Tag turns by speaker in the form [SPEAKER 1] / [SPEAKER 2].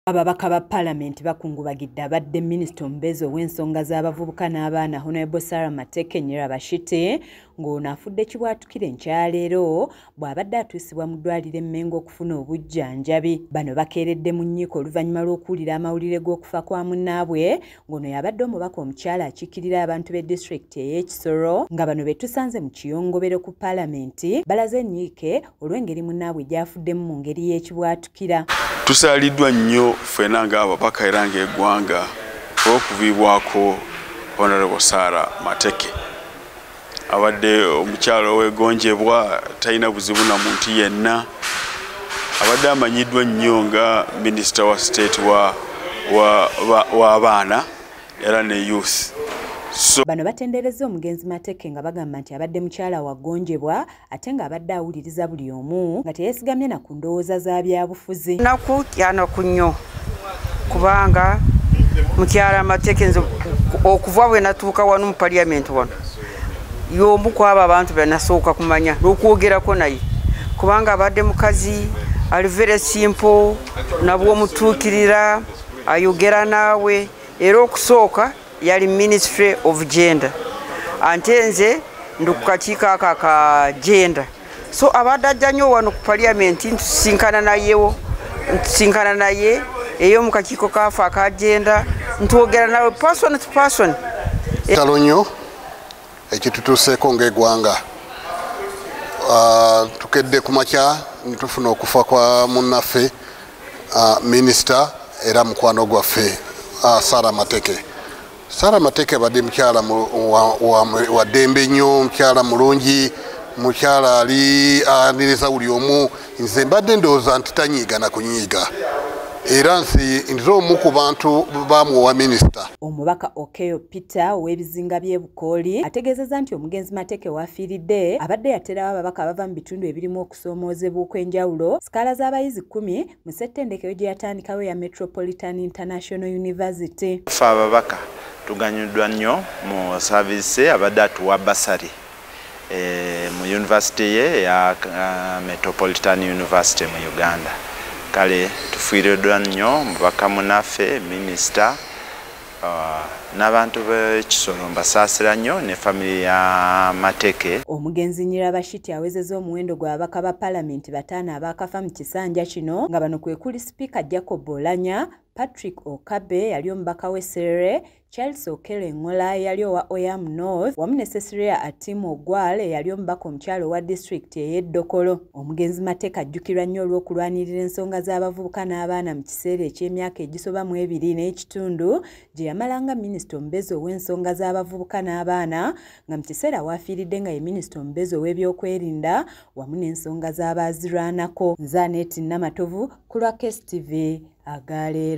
[SPEAKER 1] Ababaka ba Palamenti bakungubagidde abadde minisita omubeezi ow'ensonga z'abavubuka n'abaana Honorable Sarah Mateke Nyirabashite ng'ono afudde kibwatukira enkyaleero bw'abadde atuusibwa mu ddwaliro e Mmengo okufuna obujjanjabi. Bano bakeeredde mu nyiiko oluvannyuma lw'okuwulira amawulire g'okufa kwa munnaabwe ng'ono yabadde omubaka omukyala akiikirira abantu b'e disitulikiti ey'ekisoro nga bano be tusanze mu kiyongobero ku Palamenti balaze enyiike olw'engeri munnaabwe gyafuddemu mu ngeri y'ekibwatukira tusaaliddwa
[SPEAKER 2] nnyo ffena ng'ababaka era ng'egwanga olw'okuviibwako honorable sara mateke abadde omukyalo owegonjebwa talina buzibu na muntu yenna abadde amanyiddwa nnyo nga minisita wa state w'abaana era ne youth bano
[SPEAKER 1] batendereza omugenzi mateke nga bagamba nti abadde mukyala wagonjebwa ate ng'abadde awuliriza buli omu nga teyesigamye na ku ndowooza za byabufuzi naku kyanaku
[SPEAKER 3] nnyo kubanga mukyala amateeka enze okuva bwe natuuka wano mu paliyamenti wano y'omu kwabo abantu benasooka kumanya n'okwogerako naye kubanga abadde mukazi alivere simpo nabwomutuukirira ayogera naawe era okusooka yali ministry of gender ante nze ndi ku kakiiko ako aka gender so abadde ajja nyo wano ku parliament ntusinkana nayewo ntusinkana naye eyo mu kakiiko kafe aka gender ntwogera nawe person to person talo nyo
[SPEAKER 4] ekitutuuseeko ng'egwanga ah, tukedde ku makya netufuna okufa kwa munnaffe ah, minisita era mukwano gwaffe ah, sara mateke sara mateke abadde mukyala wa ddembe nnyo mukyala mulungi mukyala ali aniriza buli omu nze mbadde ndowooza nti tanyiiga na kunyiiga era nsi nze omu ku bantu bamuwa minisita omubaka okeyo
[SPEAKER 1] peter ow'ebizinga by'e bukooli ategeezezza nti omugenzi mateeke waafiiridde abadde yaterawo ababaka abava mu bitundu ebirimu okusoomoozebwa okw'enjawulo sikaala z'abayizi kkumi mu ssettendekero gye yatandikawo eya metropolitan international university fe ababaka
[SPEAKER 5] tuganyuddwa nnyo mu saaviise abadde atuwa basari eh, mu yunivasite ye eya uh, metropolitan university mu uganda kale tufiiriddwa nnyo mubaka munaffe minisita uh, n'abantu b'ekisolo mbasaasira nnyo ne famire ya mateke omugenzi nyirabashiti
[SPEAKER 1] awezeza omuwendo gw'ababaka ba palamenti bataano abaakafa mu kisanja kino nga bano kwe kuli sipiika jacob olanya patrick okabe yali omubaka w'eserere Charles Okello Engola eyali owa Oyam North wamu ne Cecilia Atim Ogwal eyali omubaka omukyalo owa disitulikiti ey'eddokolo. Omugenzi Mateka ajjukirwa nnyo olw'okulwanirira ensonga z'abavubuka n'abaana mu kiseera eky'emyaka egisoba mu ebiri n'ekitundu gye yamala nga minisita omubezi ow'ensonga z'abavubuka n'abaana nga mu kiseera waafiiridde nga ye minisita omubezi ow'ebyokwerinda wamu n'ensonga z'abaazirwanako. Nze Aneeti Namatovu ku lwa KSTV aga leero.